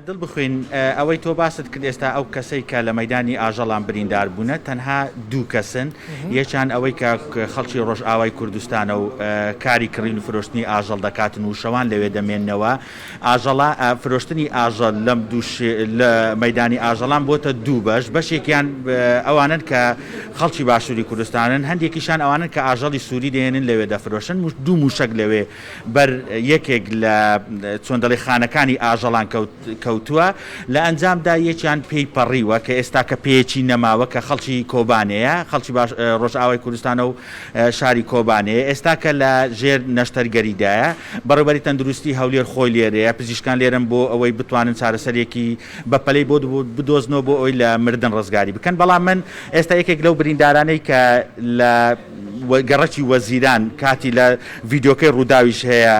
دڵ بخوین ئەوەی تۆ باست کرد ئێستا ئەو کەسەی کە لە مەیدانی ئاژەڵان بریندار بوونە تەنها دوو کەسن یەکیان ئەوەی کە خەڵکی ڕۆژئاوای کوردستانە و کاری کڕین و فرۆشتنی ئاژەڵ دەکاتن و شەوان لەوێ دەمێننەوە ئاژەڵا فرۆشتنی ئاژەڵ لەم دوو لە مەیدانی ئاژەڵان بۆتە دوو بەش بەشێکیان ئەوانن کە خەڵکی باشووری کوردستانن هەندێکیشان ئەوانن کە ئاژەڵی سووری دێنن لەوێ دەفرۆشن دوو موشک لەوێ بەر یەکێک لە چۆن دەڵێ خانەکانی ئاژەڵان کەوتووە، لە ئەنجامدا یەکیان پێی پەڕیوە کە ئێستاکە پێیەکی نەماوە کە خەڵکی کۆبانێیە، خەڵکی ڕۆژئاوای کوردستانە و شاری کۆبانێیە، ئێستاکە لە ژێر نەشتەرگەریدایە، بەڕێوبەری تەندروستی هەولێر خۆی لێرەیە، پزیشکان لێرەن بۆ ئەوەی بتوانن چارەسەرێکی بەپەلەی بۆ بدۆزنەوە بۆ ئەوەی لە مردن ڕزگاری بکەن، بەڵام من ئێستا یەکێک لەو بریندارانەی کە لە. گەڕەکی وەزیران کاتی لە ڤیدیۆکەی ڕووداویش هەیە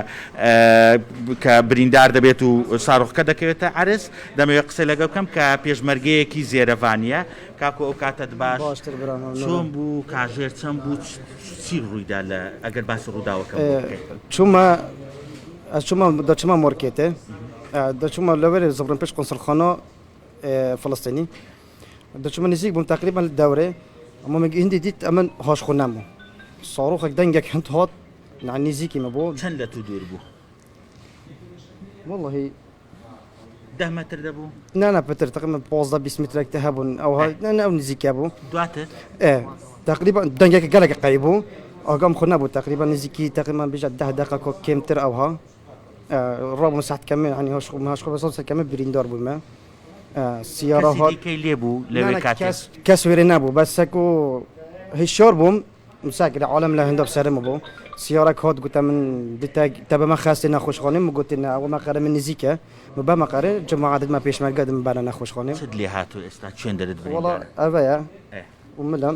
کە بریندار دەبێت و ساڕۆخکە دەکەوێتە عەرز دەمەوێت قسەی لەگەڵ بکەم کە پێشمەرگەیەکی زێرەڤانیە کاکۆ ئەو کاتەت باش باشتر برام ممنونم چۆن بوو کاژێر چەند بوو چ- چی ڕوویدا لە ئەگەر باسی ڕووداوەکە بکەیت چوومە ئە چوومە دەچوومە مۆرکێتێ ئە دەچوومە لەوەرێ زبرم پێش قونسڵخانە ئێ فەڵەستێنی دچمە نزیک بووم تەقریبەن لە دەورێ مۆمێک هندی دیت ئەمن هۆش خو نەم بوو ساڕوخێک دەنگێک هەند هات نە نزیکی مە بوو چەند لە تو دوور بوو واللهی ده متر دەبوو نا نا پتر تقریبا 15 20 مترێک تە هەبوون ئەو هەنە ئەو نزیکە بوو دواتر تقریبا دەنگێک گەلێک قەی بوو ئەگەم خو نەبوو تقریبا نزیکی تقریبا بژە ده دقە کۆ کێمتر ئەوها ڕۆم ساعت کەمێ هەنی هۆش خو هاش خۆ بەسەڵ سەر کەمە بریندار بوومە کەسی دیکەی لێ بوو لەوێ کاتێ؟ کەس وێرەی نەبوو بەس سەک و هی شۆر بووم مساک لە عالەم لە هندۆ سەرم بوو سیارەک هات گوتە من دیتە تە بەمە خەستی نەخۆشخانەم گوتی نە ئەوە مەقەرە من نزیکە بە مەقەرە جماعە دەمە پێشمەرگە دەم بەرە نەخۆشخانەم چت لێ هاتوو ئێستا چێندەرت بڕی وڵا ئەڤەیە وملم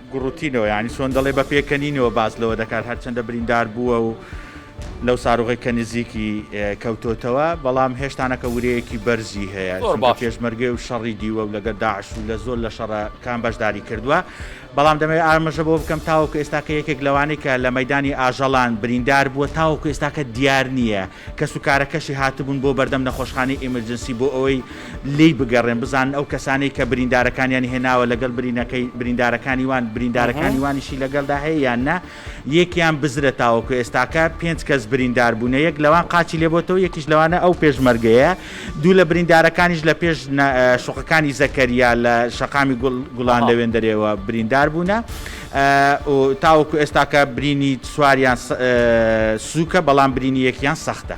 گوڕوتینەوە یانی چۆن دەڵێ بە پێکەنینەوە باس لەوە دەکات هەرچەندە بریندار بووە و لەو ساروغی کە نزیکی کەوتۆتەوە بەڵام هێشتانەکە ورەیەکی بەرزی هەیە چونکە پێشمەرگێ و شەڕی دیوە و لەگە داعش و لە زۆر لە شەڕە کام بەشداری کردووە بەڵام دەمەوێت ئامژە بۆ بکەم تاوەکو ئێستاکە یەکێک لەوانەی کە لە مەدانی ئاژەڵان بریندار بووە تاوەکو ئێستاکە دیار نییە کەسوکارەکەشی هاتبوون بۆ بەردەم نەخۆشخانەی ئیمرجنسی بۆ ئەوەی لێی بگەڕێن بزانن ئەو کەسانەی کە بریندارەکانیانی هێناوە لەگەڵ برینەکەی بریندارەکانی وان بریندارەکانی وانیشی لەگەڵدا هەیە یان نا یەکیان بزرە تاوەکو ئێستاکە پێنج کەس بریندار بوونە یەک لەوان قاچی لێ بۆتەوە یەکیش لەوانە ئەو پێشمەرگەیە دوو لە بریندارەکانیش لە پێش شوقەکانی زەکەریا لە شەقامی گوڵان لەوێندەرێوە بریندار بوونە و تاوەکو ئێستاکە برینی چواریان سووکە بەڵام برینی یەکیان سەختە.